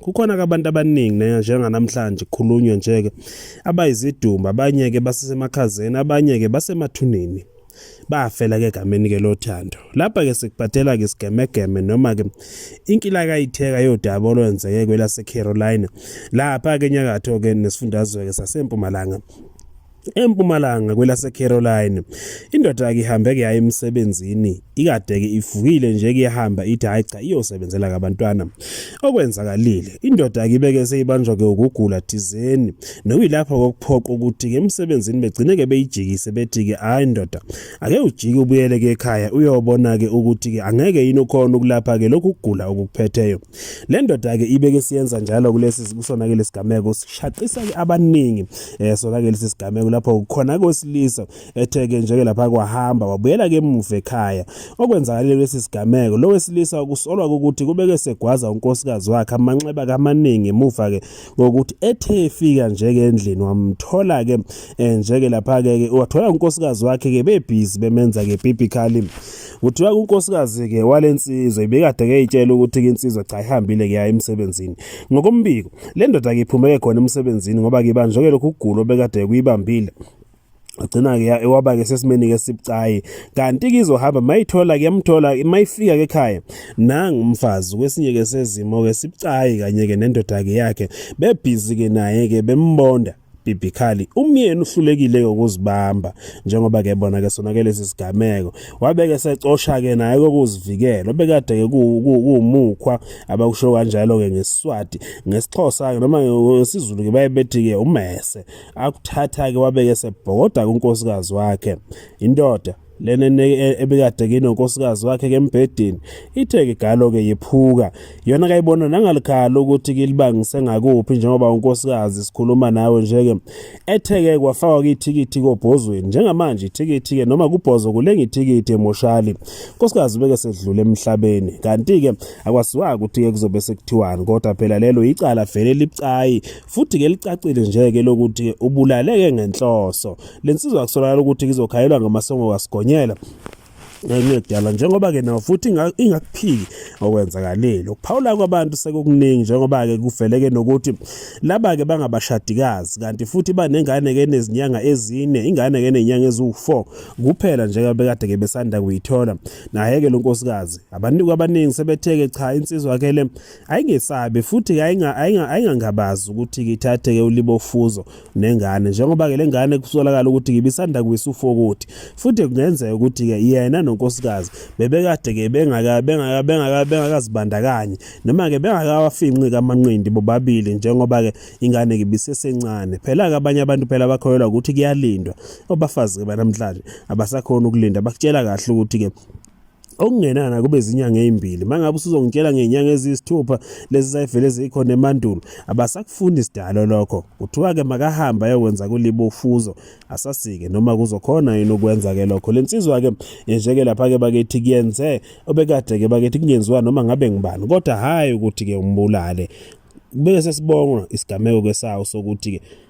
kukhona ke abantu abaningi ne njenganamhlanje khulunywe nje ke abayizidumba abanye ke basesemakhazeni abanye ke basemathuneni bafela ke gameni ke lothando lapha ke sikubhathela ke sigemegeme noma ke inkila kayitheka yodaba olwenzeke kwelase Carolina lapha ke nyakatho ke nesifundazwe ke sasempumalanga empumalanga kwelaseCaroline. Indoda ke ihambe ke yaye emsebenzini ikadeke ivukile nje kuyahamba ithi hayi cha iyosebenzela kabantwana. Okwenzakalile indoda ke ibeke seyibanjwa ke ukugula thizeni nokuyilapha kokuphoqa ukuthi ke emsebenzini begcine ke beyijikise bethi ke hayi ndoda ake ujike ubuyele ke ekhaya uyobona ke ukuthi ke angeke yini ukhona ukulapha ke lokhu kugula okuphetheyo. Le ndoda-ke ibeke siyenza njalo kulesi kusona-ke lesigameko sishaqisa-ke abaningi um sona-ke lesi sigameko lapho khona kosilisa ethe-ke njeke lapha kwahamba wabuyela-ke emuva ekhaya okwenzakalile kulesi sigameko lo wesilisa kusolwa ukuthi kubeke segwaza unkosikazi wakhe amanxeba kamaningi emuva-ke ngokuthi ethe efika njeke endlini wamthola-ke um njeke lapha-ke wathola unkosikazi wakhe-ke bebhizi bemenza-ke bibically Kuthiwa unkosikazi-ke wale nsizwa ibikade keyitshela ukuthi-ke insizwa cha ihambile kuya emsebenzini. Ngokombiko, le ndoda-ke iphumeke khona emsebenzini ngoba-ke ibanjwe-ke lokhu kugula obekade kuyibambile agcina-ke waba-ke sesimeni-ke sibucayi kanti-ke izohamba mayithola kuyamthola mayifika-ke ekhaya nangu umfazi kwesinye-ke sezimo-ke sibucayi kanye-ke nendoda-ke yakhe bebhizi-ke naye-ke bembonda bibhikali umyeni uhlulekile ngokuzibamba njengoba ke bona ke sonakele sisigameko wabeke secosha ke naye kokuzivikela obekade ke kuwumukhwa abakusho kanjalo ke ngesiswati ngesixhosa ke noma ngesizulu ke baye bethi ke umese akuthatha ke wabeke sebhokoda kunkosikazi wakhe indoda Le nene e, ebikade kinonkosikazi wakhe ke embhedeni ithe ke galo ke yephuka yona kayibona nangalikhala ukuthi kilibangise ngakuphi njengoba unkosikazi sikhuluma nawe nje ke etheke kwafakwa ithikithi kobhozweni njengamanje ithikithi ke noma kubhozo kulenga ithikithi emoshali unkosikazi beke sedlule emhlabeni kanti ke akwaziwa ukuthi ke kuzobe sekuthiwani kodwa phela lelo icala vele libucayi futhi ke licacile nje ke lokuthi ubulaleke ngenhloso Le nsizwa akusolakala ukuthi izokhayelwa ngamasongo kasigonyela ngekudala njengoba ke nawo futhi ingakuphiki okwenzakalile ukuphawula kwabantu sekukuningi njengoba ke kuveleke nokuthi laba ke bangabashadikazi kanti futhi banengane ke nezinyanga ezine ingane ke nenyanga eziwu4 kuphela njengoba bekade ke besanda kuyithola naye ke lonkosikazi abantu abaningi sebetheke cha insizwa ke le ayingesabi futhi ayingangabazi ukuthi ngithathe ke ulibofuzo nengane njengoba ke lengane kusolakala ukuthi ngibisanda kwisa ufokuthi futhi kungenzeka ukuthi ke yena nonkosikazi bebekade ke bengaka bengaka bengaka bengakazibandakanye noma ke bengakawafinqi kamanqindi bobabili njengoba ke ingane ngibisesencane phela ke abanye abantu phela bakholelwa ukuthi kuyalindwa obafazi ke banamhlanje abasakhona ukulinda bakutshela kahle ukuthi ke okungenana kube zinyanga ezimbili mangabe usuzongitshela ngenyanga eziyisithupha lezi zayivele zikhona emandulo abasakufuni isidalo lokho kuthiwa ke makahamba ayokwenza kulibo ufuzo asasike noma kuzokhona yini ukwenza ke lokho lensizwa ke njeke lapha ke bakethi kuyenze obekade ke bakethi kungenziwa noma ngabe ngibani kodwa hayi ukuthi ke umbulale bese sibonga isigameko ke sawo sokuthi ke